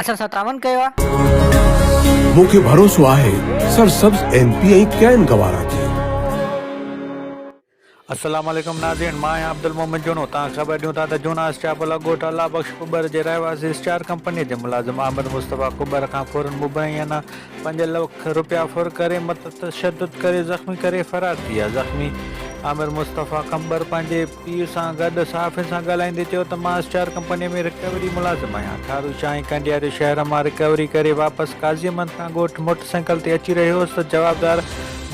اسان سان تعاون ڪيو آ. مون کي ڀروسو آهي سرسبز ايم پي ۽ ڪين گوارا تي. السلام عليڪم ناظرين مان آهيان عبدالمومن جوڻو توهان کي خبر ڏيون ٿا ته جوڻا اسٽيا پلا ڳوٺ الله بخش ڪٻر جي رهواسي اسٽار ڪمپني جي ملازم احمد مصطفيٰ ڪٻر کان ڦورن مبينا پنج لک رپيا ڦر ڪري متشدد ڪري زخمي ڪري فرار ٿي ويا زخمي احمد مصطفيٰ ڪٻر پنهنجي پيء سان گڏ صحافين سان ڳالهائيندي چيو ته مان اسٽار ڪمپنيء ۾ رڪوري ملازم آهيان، ٿارو شاهه ۽ ڪئنڊيا جي شهر مان رڪوري ڪري واپس قاضي محمد کان ڳوٺ موٽر سائيڪل تي اچي رهيو هوس ته جوابدار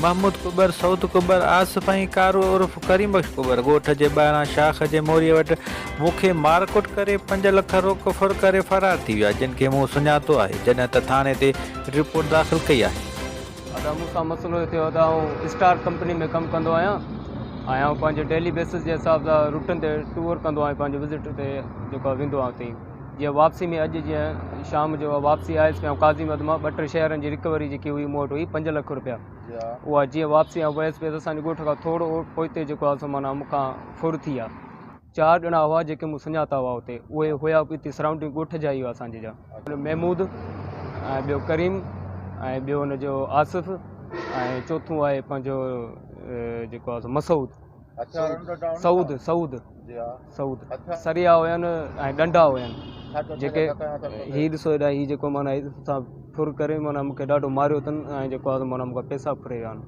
محمود ڪٻر، سعود ڪٻر، آصف ۽ ڪارو عرف ڪريم بخش ڪٻر ڳوٺ جي ٻاهران شاخ جي موريء وٽ مون کي مارڪٽ ڪري پنج لک روڪ ڦر ڪري فرار ٿي ويا جن کي مون سڃاتو آهي جڏهن ته ٿاڻي تي رپورٽ داخل ڪئي آهي. ادا مون سان مسئلو اهي ٿيو ادا آئون اسٽار ڪمپني ۾ ڪم ڪندو آهيان ۽ آئون پنهنجي ڊيلي بيسس جي حساب سان روٽن تي ٽور ڪندو آهيان پنهنجي وزٽ تي جيڪو آهي ويندو آهيان اتي جيئن واپسي ۾ اڄ جيئن شام جو واپسي آيس پيان قاضي مد مان ٻه ٽي شهرن جي رڪوري جيڪي هئي مون وٽ هئي پنج لک روپيا اها جيئن واپسي آئون ويس پيس اسانجي ڳوٺ کان ٿورو پوئتي جيڪو آهي سو معنيٰ مون کان ڦر ٿي آ چار ڄڻا هئا جيڪي مون سڃاتا هئا اتي اهي هيا به اتي سرائونڊنگ ڳوٺ جا ئي هئا اسان جي جا محمود ۽ ٻيو ڪريم ۽ ٻيو ان جو آصف ۽ چوٿون آهي پنهنجو جيڪو آهي مسعود سعود سعود سعود سريا هين ۽ ڏنڊا هين جيڪي هي ڏسو هيڏا هي جيڪو مانا سان ڦر ڪري مانا مونکي ڏاڍو ماريو اٿن ۽ جيڪو آهي مانا مونکا پيسا ڦري ويا آهن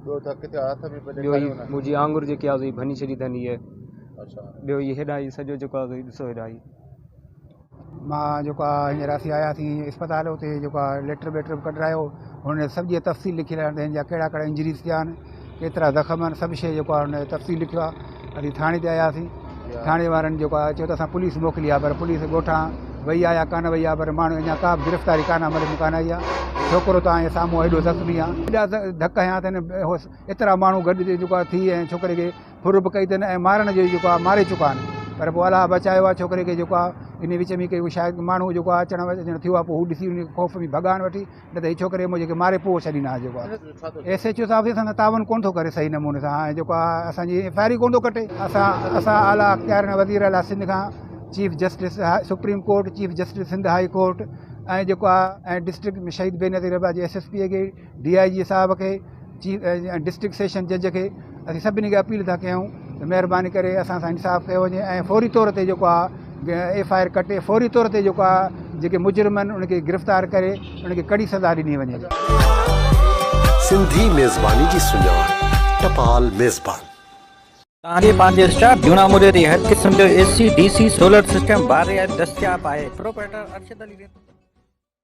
ٻيو هي منهنجي آڱر جيڪي آهي ڀڃي ڇڏي اٿن هي ٻيو هي هيڏانهن هي سڄو جيڪو آهي ڏسو هيڏانهن هي مان جيڪو آهي هينئر اسين آياسين اسپتال اتي جيڪو آهي ليٽر ويٽر به ڪڍرايو هن سڀ جي تفصيل لکيل آهي هن جا ڪهڙا ڪهڙا انجريز ٿيا آهن ڪيترا زخم آهن سڀ شيء جيڪو آهي هن تفصيل لکيو آهي اسين ٿاڻي تي آياسين ٿاڻي وارن جيڪو آهي چيو ته اسان پوليس موڪلي آهي پر پوليس ڳوٺا وئي آهي يا ڪانه وئي آهي پر ماڻهو اڃا ڪا گرفتاري ڪانه عمل ۾ ڪانه آئي آهي ڇوڪرو تان هي سامهون هيڏو زخمي آهي ايڏا ڌڪ هيا اٿن ايترا ماڻهو گڏ جيڪو آهي ٿي ۽ ڇوڪري کي ڦر به ڪئي اٿن ۽ مارڻ جو جيڪو آهي ماري چڪا آهن پر پوء الاهه بچايو آهي ڇوڪري کي جيڪو آهي ان وچ ۾ ڪي هو شايد ماڻهو جيڪو آهي اچڻ وڃڻ ٿيو آهي پوء هو ڏسي ان خوف ۾ ڀڳا آهن وٺي نه ته هي ڇوڪري مون جيڪي ماري پوء ڇڏيندا آهن جيڪو آهي ايس ايچ او صاحب ائين سندن تعاون ڪونه ٿو ڪري صحيح نموني سان ۽ جيڪو آهي اسانجي ايف آء آر ئي ڪونه ٿو ڪٽي اسان اسان اعليٰ اختيارين وزير اعليٰ سنڌ کان chief justice supreme court chief justice Sindh high court ۽ جيڪو آهي ۽ ڊسٽرڪٽ شهيد بينظير احباز جي ايس ايس پي اڳي ڊي آء جي صاحب کي چيف ۽ ڊسٽرڪٽ سيشن جج کي اسين سڀني کي اپيل ٿا ڪيون ته مهرباني ڪري اسان سان انصاف ڪيو وڃي ۽ فوري طور تي جيڪو آهي ايف آء آر ڪٽي فوري طور تي جيڪو آهي جيڪي مجرم آهن ان کي گرفتار ڪري ان کي ڪڙي سزا ڏني وڃي سنڌي ميزباني جي سڃاڻ ٽپال ميزبان. توهان کي پنهنجي اسٽاف جون آمريت جي هر قسم جو A C, D C, solar system, بار رعايت دستياب آهي، پروپرائيٽر ارشد علي ريتو.